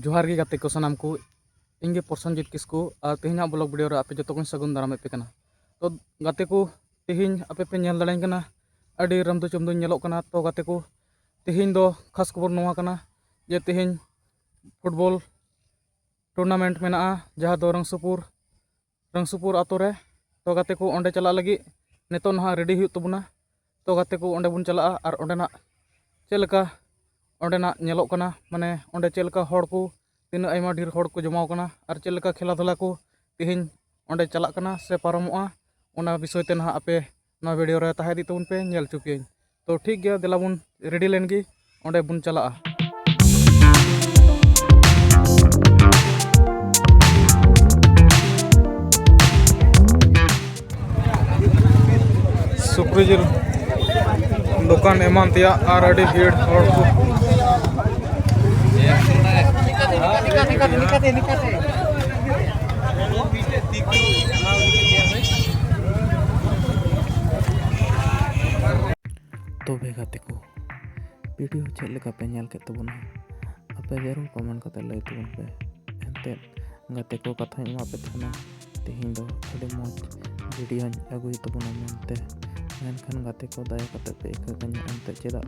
ᱡᱚᱦᱟᱨ ᱜᱮ ᱜᱟᱛᱮ ᱠᱚ ᱥᱟᱱᱟᱢ ᱠᱚ ᱤᱧ ᱜᱮ ᱯᱨᱚᱥᱚᱱᱡᱤᱛ ᱠᱤᱥᱠᱩ ᱟᱨ ᱛᱮᱦᱮᱧᱟᱜ ᱵᱞᱚᱜ ᱵᱷᱤᱰᱤᱭᱳ ᱨᱮ ᱟᱯᱮ ᱡᱚᱛᱚ ᱠᱚᱧ ᱥᱟᱹᱜᱩᱱ ᱫᱟᱨᱟᱢ ᱮᱫ ᱯᱮ ᱠᱟᱱᱟ ᱛᱚ ᱜᱟᱛᱮ ᱠᱚ ᱛᱮᱦᱮᱧ ᱟᱯᱮ ᱯᱮ ᱧᱮᱞ ᱫᱟᱲᱮᱧ ᱠᱟᱱᱟ ᱟᱹᱰᱤ ᱨᱟᱢᱫᱩ ᱪᱚᱢᱫᱩᱧ ᱧᱮᱞᱚᱜ ᱠᱟᱱᱟ ᱛᱚ ᱜᱟᱛᱮ ᱠᱚ ᱛᱮᱦᱮᱧ ᱫᱚ ᱠᱷᱟᱥ ᱠᱷᱚᱵᱚᱨ ᱱᱚᱣᱟ ᱠᱟᱱᱟ ᱡᱮ ᱛᱮᱦᱮᱧ ᱯᱷᱩᱴᱵᱚᱞ ᱴᱩᱨᱱᱟᱢᱮᱱᱴ ᱢᱮᱱᱟᱜᱼᱟ ᱡᱟᱦᱟᱸ ᱫᱚ ᱨᱟᱝᱥᱩᱯᱩᱨ ᱨᱟᱝᱥᱩᱯᱩᱨ ᱟᱛᱳ ᱨᱮ ᱛᱚ ᱜᱟᱛᱮ ᱠᱚ ᱚᱸᱰᱮ ᱪᱟᱞᱟᱜ ᱞᱟᱹᱜᱤᱫ ᱱᱤᱛᱚᱜ ᱱᱟᱦᱟᱜ ᱨᱮᱰᱤ ᱦᱩᱭᱩᱜ ᱛᱟᱵᱚᱱᱟ ᱛᱚ ᱜᱟᱛᱮ ᱠᱚ ᱚᱸᱰᱮ ᱵᱚᱱ ᱪᱟᱞᱟᱜᱼᱟ ᱟᱨ ᱚᱸᱰᱮᱱᱟᱜ ᱪᱮᱫ ᱞᱮᱠᱟ ᱚᱸᱰᱮᱱᱟᱜ ᱧᱮᱞᱚᱜ ᱠᱟᱱᱟ ᱢᱟᱱᱮ ᱚᱸᱰᱮ ᱪᱮᱫ ᱞᱮᱠᱟ ᱦᱚᱲ ᱠᱚ ᱛᱤᱱᱟᱹᱜ ᱟᱭᱢᱟ ᱰᱷᱮᱨ ᱦᱚᱲ ᱠᱚ ᱡᱚᱢᱟᱣ ᱠᱟᱱᱟ ᱟᱨ ᱪᱮᱫ ᱞᱮᱠᱟ ᱠᱷᱮᱞᱟ ᱫᱷᱩᱞᱟ ᱠᱚ ᱛᱮᱦᱮᱧ ᱚᱸᱰᱮ ᱪᱟᱞᱟᱜ ᱠᱟᱱᱟ ᱥᱮ ᱯᱟᱨᱚᱢᱚᱜᱼᱟ ᱚᱱᱟ ᱵᱤᱥᱚᱭ ᱛᱮ ᱱᱟᱦᱟᱜ ᱟᱯᱮ ᱱᱚᱣᱟ ᱵᱷᱤᱰᱤᱭᱳ ᱨᱮ ᱛᱟᱦᱮᱸ ᱤᱫᱤᱜ ᱛᱟᱵᱚᱱ ᱯᱮ ᱧᱮᱞ ᱦᱚᱪᱚ ᱯᱮᱭᱟᱹᱧ ᱛᱚ ᱴᱷᱤᱠ ᱜᱮᱭᱟ ᱫᱮᱞᱟ ᱵᱚᱱ ᱨᱮᱰᱤ ᱞᱮᱱ ᱜᱮ ᱚᱸᱰᱮ ᱵᱚᱱ ᱪᱟᱞᱟᱜᱼᱟ ᱥᱩᱠᱨᱤ ᱡᱤᱞ ᱫᱚᱠᱟᱱ ᱮᱢᱟᱱ ᱛᱮᱭᱟᱜ ᱟᱨ ᱟᱹᱰᱤ ᱵᱷᱤᱲ ᱦᱚᱲ ᱠᱚ ᱱᱤᱠᱟᱛᱮ ᱱᱤᱠᱟᱛᱮ ᱱᱤᱠᱟᱛᱮ ᱛᱚᱵᱮ ᱜᱟᱛᱮ ᱠᱚ ᱵᱷᱤᱰᱤᱭᱳ ᱪᱮᱫ ᱞᱮᱠᱟ ᱯᱮ ᱧᱮᱞ ᱠᱮᱫ ᱛᱟᱵᱚᱱᱟ ᱟᱯᱮ ᱡᱟᱹᱨᱩᱲ ᱠᱚᱢᱮᱱᱴ ᱠᱟᱛᱮ ᱞᱟᱹᱭ ᱛᱟᱵᱚᱱ ᱯᱮ ᱮᱱᱛᱮᱫ ᱜᱟᱛᱮ ᱠᱚ ᱠᱟᱛᱷᱟᱧ ᱮᱢᱟ ᱯᱮ ᱛᱟᱦᱮᱱᱟ ᱛᱮᱦᱮᱧ ᱫᱚ ᱟᱹᱰᱤ ᱢᱚᱡᱽ ᱵᱷᱤᱰᱤᱭᱳᱧ ᱟᱹᱜᱩᱭ ᱛᱟᱵᱚᱱᱟ ᱢᱮᱱᱛᱮ ᱢᱮᱱᱠᱷᱟᱱ ᱜᱟᱛᱮ ᱠᱚ ᱫᱟᱭᱟ ᱠᱟᱛᱮ ᱯᱮ ᱤᱠᱟᱹ ᱠᱟᱹᱧᱟ ᱮᱱᱛᱮᱫ ᱪᱮᱫᱟᱜ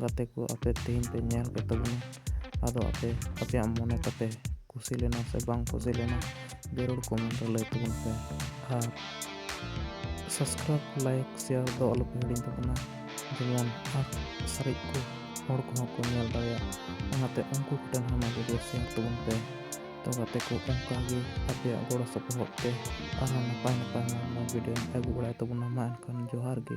ᱜᱟᱛᱮ ᱠᱚ ᱟᱯᱮ ᱛᱮᱦᱮᱧ ᱯᱮ ᱧᱮᱞ ᱠᱮᱫ ᱛᱟᱵᱚᱱᱟ ᱟᱫᱚ ᱟᱯᱮ ᱟᱯᱮᱭᱟᱜ ᱢᱚᱱᱮ ᱛᱟᱯᱮ ᱠᱩᱥᱤ ᱞᱮᱱᱟ ᱥᱮ ᱵᱟᱝ ᱠᱩᱥᱤ ᱞᱮᱱᱟ ᱡᱟᱹᱨᱩᱲ ᱠᱚᱢᱮᱱᱴ ᱨᱮ ᱞᱟᱹᱭ ᱛᱟᱵᱚᱱ ᱯᱮ ᱟᱨ ᱥᱟᱵᱥᱠᱨᱟᱭᱤᱵᱽ ᱞᱟᱭᱤᱠ ᱥᱮᱭᱟᱨ ᱫᱚ ᱟᱞᱚᱯᱮ ᱦᱤᱲᱤᱧ ᱛᱟᱵᱚᱱᱟ ᱡᱮᱢᱚᱱ ᱟᱨ ᱥᱟᱨᱮᱡ ᱠᱚ ᱦᱚᱲ ᱠᱚᱦᱚᱸ ᱠᱚ ᱧᱮᱞ ᱫᱟᱲᱮᱭᱟᱜ ᱚᱱᱟᱛᱮ ᱩᱱᱠᱩ ᱠᱚᱴᱷᱮᱱ ᱦᱚᱸ ᱱᱚᱣᱟ ᱵᱷᱤᱰᱤᱭᱳ ᱥᱮᱭᱟᱨ ᱛᱟᱵᱚᱱ ᱯᱮ ᱛᱚ ᱜᱟᱛᱮ ᱠᱚ ᱚᱱᱠᱟᱜᱮ ᱟᱯᱮᱭᱟᱜ ᱜᱚᱲᱚ ᱥᱚᱯᱚᱦᱚᱫ ᱛᱮ ᱟᱨᱦᱚᱸ ᱱᱟᱯᱟᱭ ᱱᱟᱯᱟᱭ ᱢᱚᱡᱽ ᱢᱚᱡᱽ ᱵᱷᱤᱰᱤᱭᱳᱧ ᱟᱹᱜᱩ ᱵᱟᱲᱟᱭ ᱛᱟᱵᱚᱱᱟ ᱢᱟ ᱮᱱᱠᱷᱟᱱ ᱡᱚᱦᱟᱨ ᱜᱮ